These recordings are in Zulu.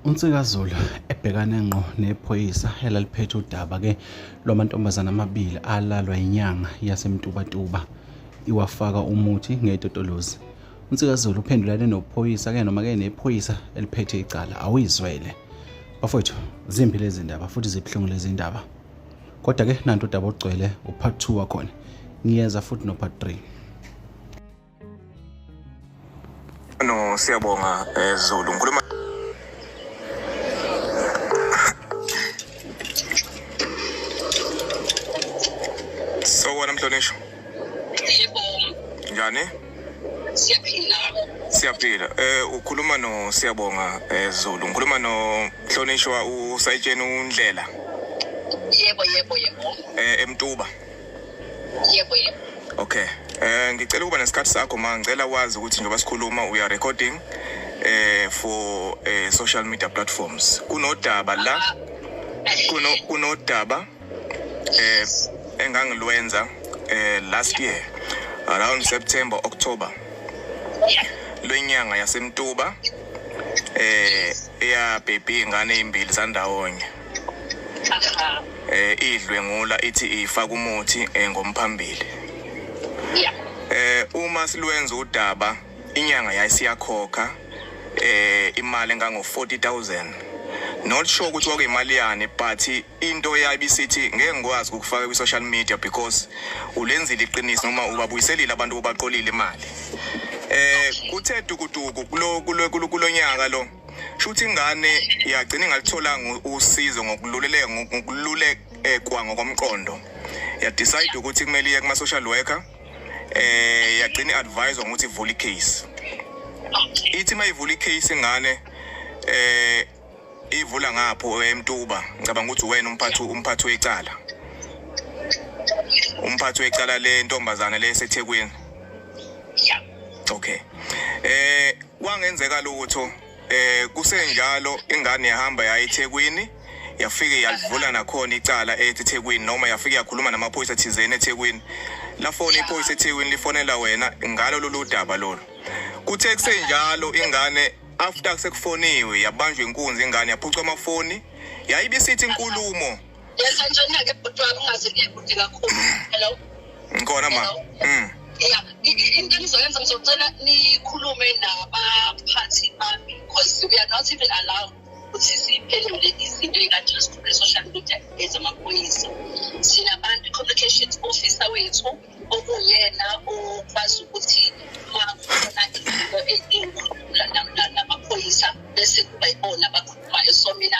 uNsikazulu ebhekane ngqo nephoyisa elaliphethe udaba-ke lwamantombazane amabili alalwa inyanga yasemtubatuba iwafaka umuthi ngetotolozi uNsikazulu uphendulane nophoyisa-ke noma-ke nephoyisa eliphethe icala awuyizwele bafowethu zimbi lezi ndaba futhi zibuhlungu lezi ndaba kodwa-ke nanto udaba ogcwele upart two wakhona ngiyeza futhi nopart three No, siyabonga eh, Zulu. Ngikhuluma Sawona mhlonishwa. Yebo. Njani? Siyaphila. Siyaphila. Eh ukhuluma no Siyabonga eh, Zulu. Ngikhuluma no mhlonishwa usayitsheni undlela. Yebo yebo yebo. Eh eMtuba. yebo yebo okay eh ngicela ukuba nesikhathi sakho ma ngicela wazi ukuthi njengoba sikhuluma we are recording eh for eh, social media platforms kunodaba la kuno kunodaba eh engangilwenza eh last year around September October lwenyanga yasemtuba eh eyabhebhi ingane ezimbili zandawonye eh idlwengula ithi ifaka umuthi eh, ngomphambili yeah eh uma silwenza udaba inyanga yayisiyakhokha eh imali engango 40000 not sure ukuthi wake imali yani but into yabi sithi ngeke ngikwazi ukufaka kwi social media because ulenzile iqiniso noma ubabuyiselile abantu obaqolile imali eh kuthe dukuduku kulo kulonyaka lo shuthi ingane yagcina ingalitholanga usizo ngokululeleka ngokululekwa ngokomqondo ya decide ukuthi kumele iye kuma social worker eh yagcina advise ukuthi ivule case ithi mayivula case ingane eh ivula ngapho emtuba ngicabanga ukuthi wena umphathi umphathi wecala umphathi wecala le ntombazane le sethekwini okay eh kwangenzeka lutho eh kusenjalo ingane yahamba yayi eThekwini yafike yalivula nakhona icala eThekwini noma yafike yakhuluma namaphoyisa thizeni eThekwini lafona iphoyisa eThekwini lifonela wena ngalo lolu daba lolu kuthe kusenjalo ingane after sekufoniwe yabanjwa inkunzi ingane yaphucwa amafoni yayibisithi inkulumo ngikhona ma mm. ya into engizoyenza ngizocela nikhulume nabaphathi bami because we are not even allowed ukuthi siphendule izinto ey'kanje esikhulule social media ezamaphoyisa sinabantu i-communications officer wethu okuyena okwazi ukuthi makukhona izinto ezinkulu namaphoyisa bese kuba yibona abakhulumayo so mina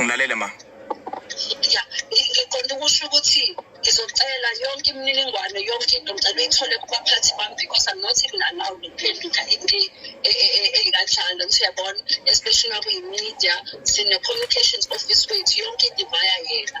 ngilalele ma ya ngiqonda ukusho ukuthi ngizocela yonke imininingwane yonke into ngicela uyithole kubaphathi bami because i'm not even allowed ukuphendula into e- e- e- eyinkanjalo ngithi uyabona especially nakuyi-media sine-communications office wethu yonke into ivaya yena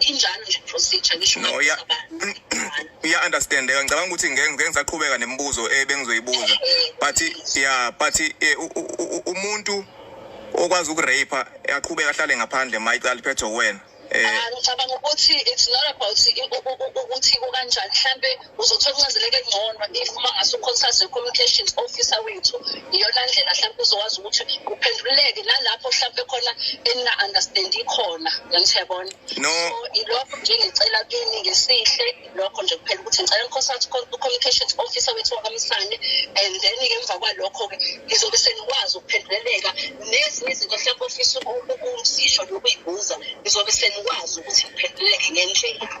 injalo nje procedure ngisho no ya ya understand eh, ngicabanga ukuthi ngeke ngeke ngisaqhubeka nemibuzo ebengizoyibuza eh, eh, but ya but umuntu okwazi ukurape aqhubeka ahlale ngaphandle mayicala liphethe wena eh ah, ngicabanga ukuthi it's not about ukuthi kukanjani mhlambe uzothola kungazeleke ngcono if uma ngase ukhonsaze communications officer wethu iyona ndlela mhlawumbe uzokwazi ukuthi kuphenduleke nalapho mhlawumbe khona enina-understand ikhona yangithebona no. so ilokho nje ngicela kini ngesihle lokho nje kuphela ukuthi ngicela ngikhonsathi u-communications officer wethu wakamsane and then-ke emva kwalokho-ke ngizobe senikwazi ukuphenduleleka nezinye izinto mhlawumbe ofisa ukumsisho nokuyibuza ngizobe senikwazi ukuthi ngiphenduleleke ngendlela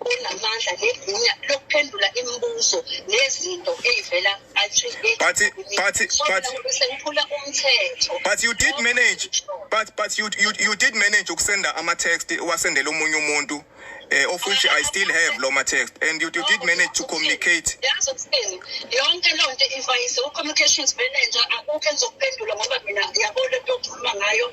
unamandla negunya lokuphendula imibuzo nezinto eyivela but but but sekuphula umthetho but you did manage but but you you, you did manage ukusenda ama text wasendela omunye umuntu eh, of which I still have lo ma text and you, you did manage to communicate yazi ukusini yonke lo nto ivayise u communications manager akukho engizokuphendula ngoba mina yabo lento okhuluma ngayo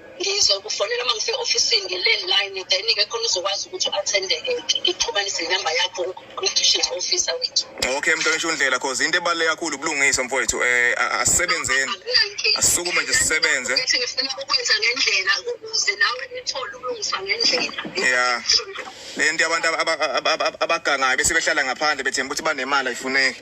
ngizokufonela uma ngifika ofisini nge-landline then-ke khona uzokwazi ukuthi u-attendeke ngixhumanise inamba yakho kwi-district officer wethu okay mntangisho undlela cause into ebaluleke kakhulu ubulungiswa mfowethu um asisebenzeni asisukume nje sisebenze ukuthi ngifuna ukwenza ngendlela ukuze nawe nithole ubulungiswa ngendlela ya le nto abantu abagangayo bese behlala ngaphandle bethemba ukuthi banemali ayifuneki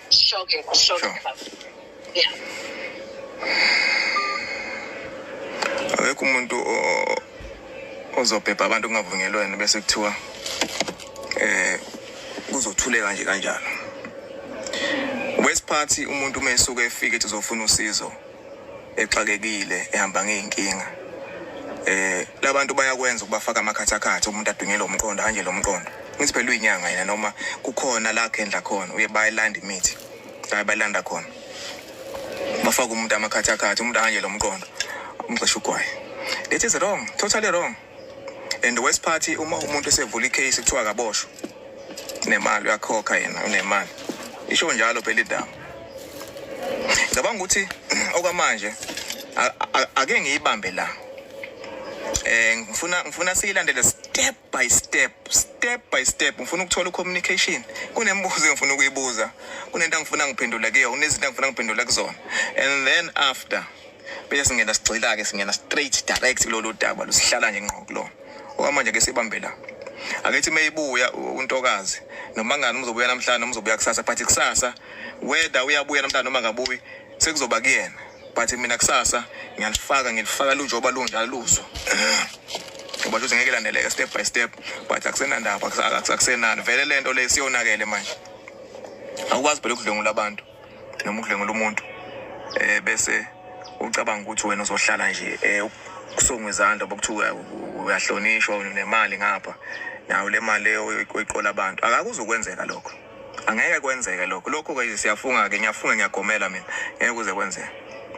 Shocking, shocking. Sure. Yeah. Akekho umuntu o- ozobhebha abantu kungavunyelwene bese kuthiwa eh kuzothuleka nje kanjalo. Wesiphathi umuntu uma esuke efike ethi uzofuna usizo exakekile ehamba ngey'nkinga eh labantu bayakwenza ukubafaka amakhathakhatha umuntu adunyelwe umqondo hanje lo mqondo ngithi phela uyinyanga yena noma kukhona la kendla khona uye bayilanda imithi la bayilanda khona bafaka umuntu amakhathakhatha umuntu hanje lo mqondo umxesha ugwaye it is wrong totally wrong and the worst party uma umuntu esevula icase kuthiwa akaboshwa nemali uyakhokha yena unemali isho njalo phela idaba ngicabanga ukuthi okwamanje ake ngiyibambe la eh ngifuna ngifuna siyilandele step by step step by step ngifuna ukuthola ucommunication kunembuzo engifuna ukuyibuza kunento engifuna ngiphendula kuyo kunezinto engifuna ngiphendula kuzona and then after bese singena sigxila ke singena straight direct kulolu daba lusihlala nje ngqo kulona okwamanje ke sibambe la akethi meyibuya untokazi noma ngani umzobuya namhlanje noma uzobuya kusasa but kusasa whether uyabuya namhlanje noma akabuyi sekuzoba kuyena but mina kusasa ngiyalifaka ngilifaka lunjoba lunjalo luzo ngoba luze ngeke laneleke step by step but akusenandaba akusenani vele lento le siyonakele manje awukwazi phela ukudlwengula abantu noma ukudlengula umuntu eh bese ucabanga ukuthi wena uzohlala nje eh kusongwe izandla bokuthiwa uyahlonishwa unemali ngapha nayo le mali leyo oyiqola abantu akakuzokwenzeka lokho angeke kwenzeke lokho lokho-ke siyafunga-ke ngiyafunga ngiyagomela mina ngeke kuze kwenzeka